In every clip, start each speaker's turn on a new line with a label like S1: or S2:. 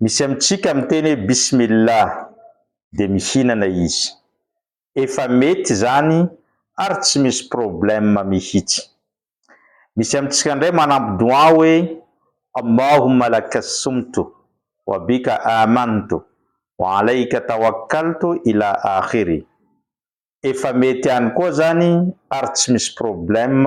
S1: Misy amintsika miteny hoe Bismillah dia mihinana izy. Efa mety izany ary tsy misy problème mihitsy. Misy amintsika indray manampy doua hoe Allahumma laka sumtu, wa bika amantu, wa alaika tawakkaltu ila akhiri. Efa mety ihany koa izany ary tsy misy problème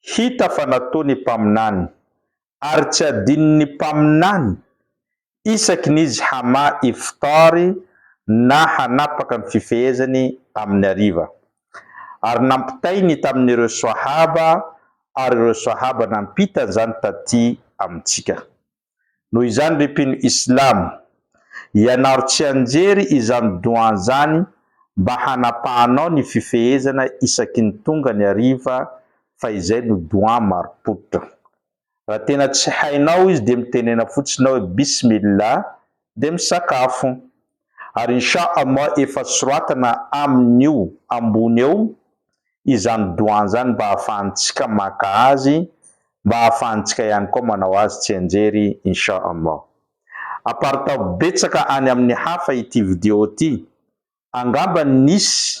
S1: hita fa nataony mpaminany, ary tsy adinon'ny mpaminany isaky ny izy hamaha iftar na hanapaka ny fifehezany amin'ny hariva. Ary nampitainy tamin'ireo Swahaba ary ireo Swahaba nampita an'izany taty amintsika. Noho izany ry mpino islamo, ianaro tsianjery izany doua zany mba hanapahanao ny fifehezana isaky ny tonga ny hariva fa izay no doua marim-pototra. Raha tena tsy hainao izy dia mitenena fotsiny hoe bismillah dia misakafo. ary insha Allah efa soratana aminy io ambony eo izany doua nzany mba afahantsika maka azy mba afahantsika ihany koa manao azy tsianjery insha Allah aparitaho betsaka any aminy hafa ity video ty angamba nisy